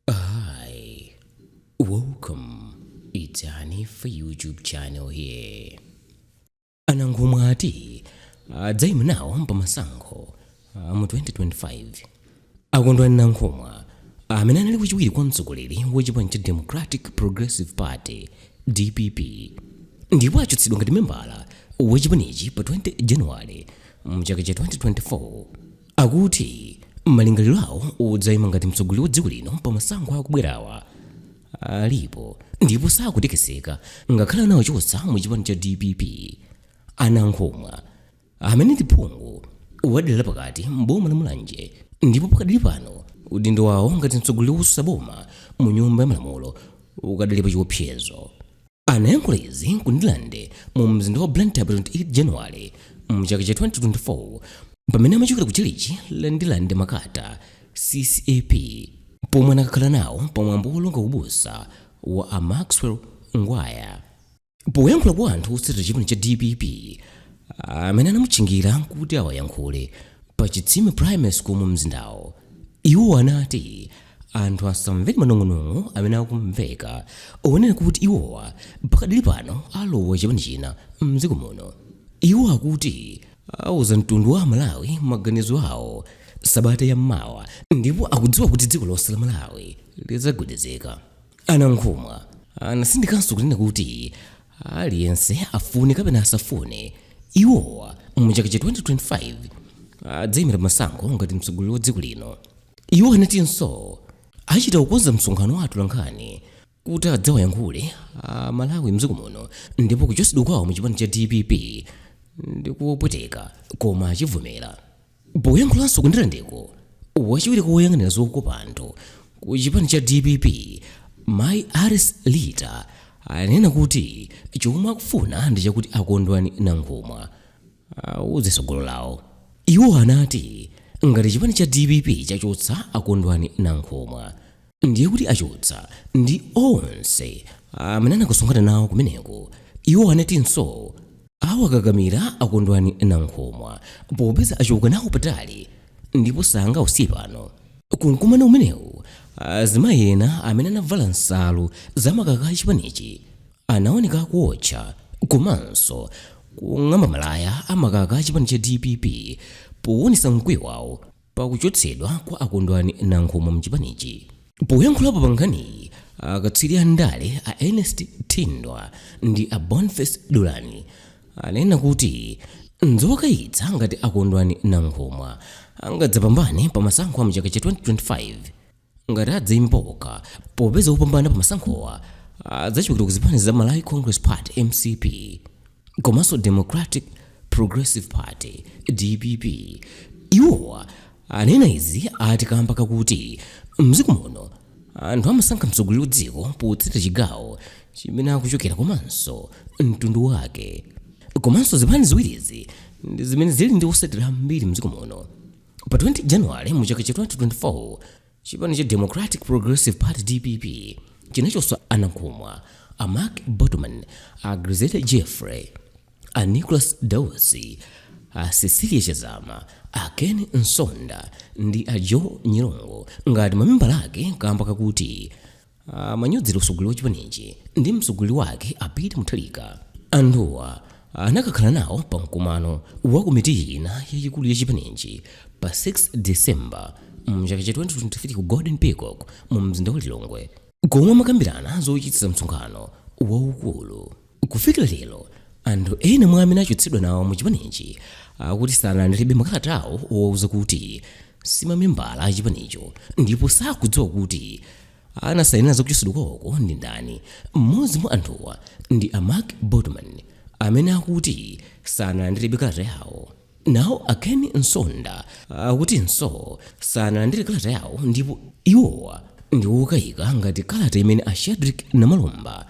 Hi, welcome. It's Hanifa YouTube channel here. A Nankhumwa ati adzaima nawo pa masankho a mu 2025 a Kondwani Nankhumwa amene anali wachiwiri kwa mtsogoleri wa chipani cha Democratic Progressive Party DPP ndipo achotsedwa ngati membala wa chipanichi pa 20 January mchaka cha 2024 Akuti malingaliro awo odzaima ngati mtsogoleri wa dziko lino pa masankho akubwerawa alipo ndipo sakutekeseka ngakhale anawachotsa mu chipani cha dpp a Nankhumwa amene ndi phungu wa dera lapakati m'boma la mulanje ndipo pakadali pano udindo wawo ngati mtsogoleri wotsutsa boma mu nyumba ya malamulo ukadali pa chiopsezo anayankhula izi ku Ndirande mu mzinda wa blantyre pa 28 January mchaka cha 2024 pamene amachokera ku chalichi la Ndirande makata ccap pomwe anakakhala nawo pa mwambo wolonga ubusa wa a maxwell ngwaya poyankhula kwa anthu otsatira chipani cha dpp amene anamutchingira kuti awayankhule pa chitsime primary school mu mzindawo iwo anati Anthu asamvere manong'onong'o amene akumveka onena kuti iwowa pakadali pano alowa chipani china m'dziko muno. Iwo akuti auza mtundu wa Amalawi maganizo awo sabata ya mawa ndipo akudziwa kuti dziko lonse la Malawi lidzagwedezeka. A Nankhumwa anatsindikanso kunena kuti aliyense afune kapena asafune, iwowa mu chaka cha 2025 adzaimira pa masankho ngati mtsogoleri wa dziko lino. Iwo anatinso achita kukonza msonkhano wa atolankhani kuti adzawayankhule a Malawi mdziko muno ndipo kuchotsedwa kwawo mu chipani cha dpp ndi kopweteka koma achivomera. Poyankhulanso ku ndirandeko, wachiwiri kwa woyang'anira zokopa anthu ku chipani cha dpp mayi Alice Lita anena kuti chomwe akufuna ndi chakuti a Kondwani Nankhumwa awuze tsogolo lawo. Iwo anati ngati chipani cha dpp chachotsa a Kondwani Nankhumwa ndiye kuti achotsa ndi onse amene anakasonkhana nawo kumeneko. Iwo anatinso awakakamira a Kondwani Nankhumwa popeza achoka nawo patali ndipo sangawasiye pano. Ku mkumano umenewu azimayi ena amene anavala nsalu za makaka a chipanichi Anaoneka akuotcha komanso kung'amba malaya a makaka a chipani cha dpp powonetsa mkwiyo wawo pa kuchotsedwa kwa a Kondwani Nankhumwa mchipanichi. Poyankhulapo pa nkhaniyi, akatswiri a ndale a Ernest Thindwa ndi a Boniface Dulani ananena kuti nzokayitsa ngati a Kondwani Nankhumwa angadzapambane pa masankho a mu chaka cha 2025. ngati adzaima paokha popeza wopambana pa masankhowa adzachokera ku zipani za Malawi Congress Party mcp komanso Democratic Progressive Party dpp iwowa anena izi ati kamba kakuti mdziko muno anthu amasankha mtsogoleri wa dziko potsata chigawo chimene akuchokera komanso mtundu wake komanso zipani ziwirizi ndi zimene zili ndi otsatira ambiri mdziko muno Pa 20 January mu chaka cha 2024 chipani cha Democratic Progressive Party DPP chinachotsa a Nankhumwa a Mark Botomani, a Grezelder Jeffrey, a Nicholas Dausi, a Cecilia Chazama, a Ken Msonda ndi a Joe Nyirongo ngati mamembala ake kamba kakuti amanyozera utsogoleri wa chipanichi ndi mtsogoleri wake a Peter Mutharika anthuwa anakakhala nawo pa mkumano wa komiti ina yayikulu ya chipanichi pa 6 December mchaka cha 2023 ku Golden Peacock mu mzinda wa Lilongwe komwe amakambirana zochititsa msonkhano waukulu Kufikira lero, anthu ena mwa amene achotsedwa nawo mu chipanichi akuti sanalandirebe makalata awo owauza kuti si mamembala a chipanicho ndipo sakudziwa kuti anasainira za kuchotsedwa kwawoko ndi ndani. M'modzi mwa anthuwa ndi a Mark Botomani amene akuti sanalandirebe kalata yawo. Nawo a Ken Msonda akutinso sanalandire kalata yawo ndipo iwowa ndi okayika ngati kalata imene a Shadric Namalomba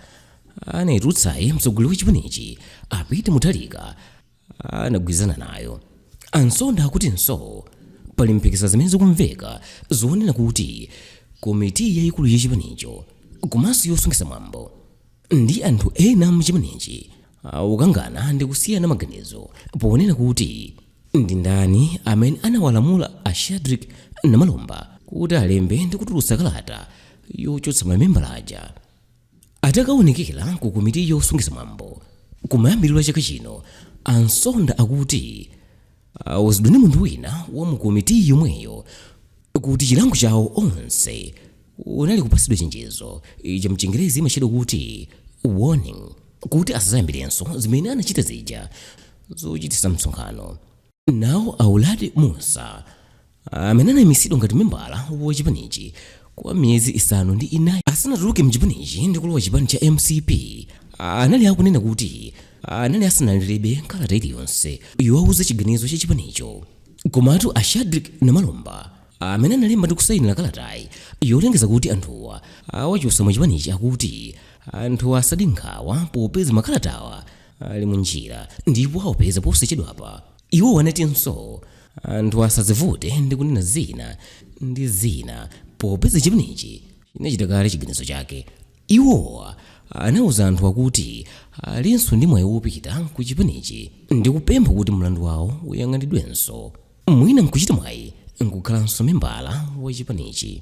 anayitulutsayi mtsogoleri wa chipanichi a peter mutharika anagwirizana nayo a msonda akutinso pali mphekesera zimene zikumveka zonena kuti komiti yayikulu ya chipanicho komanso yosungitsa mwambo ndi anthu ena mchipanichi akukangana ndi kusiyana maganizo ponena kuti ndi ndani amene anawalamula a shadric namalomba kuti alembe ndi kutulutsa kalata yochotsa mamembala aja Atakaonekera ku komiti yosungitsa mwambo kumayambiliro a chaka chino, a Msonda akuti anawuzidwa ndi munthu wina wa mu komitiyi yomweyo kuti chilango chawo onse unali kupatsidwa chenjezo, cha mchingerezi imatchedwa kuti warning, kuti asadzayambirenso zimene anachita zija zochititsa msonkhano. nawo a uladi mussa amene anaimisidwa ngati membala wa chipanichi kwa miyezi isanu ndi inayi asanatuluke mchipanichi ndi kulowa chipani cha mcp anali akunena kuti anali asanalandirebe kalata iliyonse yowauza chiganizo cha chipanicho komatu a shadric namalomba amene analemba ndi kusayinira kalatayi yolengeza kuti anthuwa awachotsa mu chipanichi akuti anthuwa asade nkhawa popeza makalatawa ali munjira ndipo awapeza posachedwapa iwo anatinso anthu asadzivute ndi kunena zina ndi zina popeza chipanichi chinachita kale chiganizo chake iwowa anauza anthu akuti alinso ndi mwayi wopita ku chipanichi ndi kupempha kuti mlandu wawo uyang'anidwenso mwina nkuchita mwayi nkukhalanso membala wa chipanichi